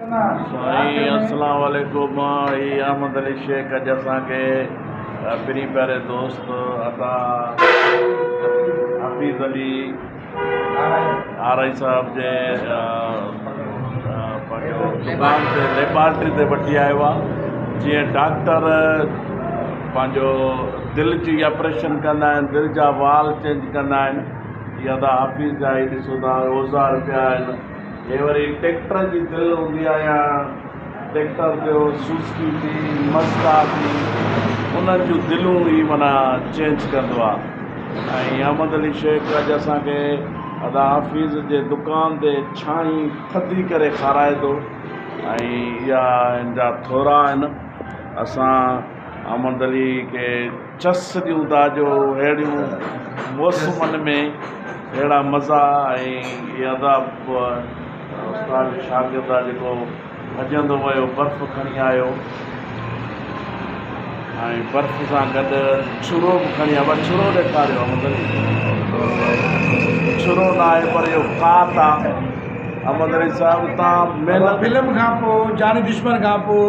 سائين اسلام عليڪم هي احمد علي شيخ اڄ اسان کي پرين پياري دوست عطا حفيظ علي آرائي صاحب جي دڪان تي ليبارٽري تي وٺي آيو آهي جيئن ڊاڪٽر پنهنجو دل جي آپريشن ڪندا آهن دل جا وال چينج ڪندا آهن ادا حفيظ جا هي ڏسو ٿا اوزار پيا آهن هي وري ٽيڪٽر جي دل هوندي آ يا ٽيڪٽر جو سوزڪي ٿي مزدا ٿي انهن جون دلون ئي معنيٰ چينج ڪندو آ ۽ احمد علي شيخ اڄ اسان کي ادا حفيظ جي دڪان تي ڇاڻي ٿڌي ڪري کارائي ٿو ۽ اها هن جا ٿورا آهن اسان احمد علي کي چس ڏيون ٿا جو اهڙيون موسمن ۾ اهڙا مزا ۽ ادا استاد جو شاگرد آ جيڪو ڀڄندو ويو برف کڻي آيو ۽ برف سان گڏ ڇرو به کڻي آيو ابا ڇرو ڏيکاريو ڇرو نه آهي پر اهو ڪات آ احمد علي صاحب تان محنت فلم کان پوء جاني دشمن کان پوء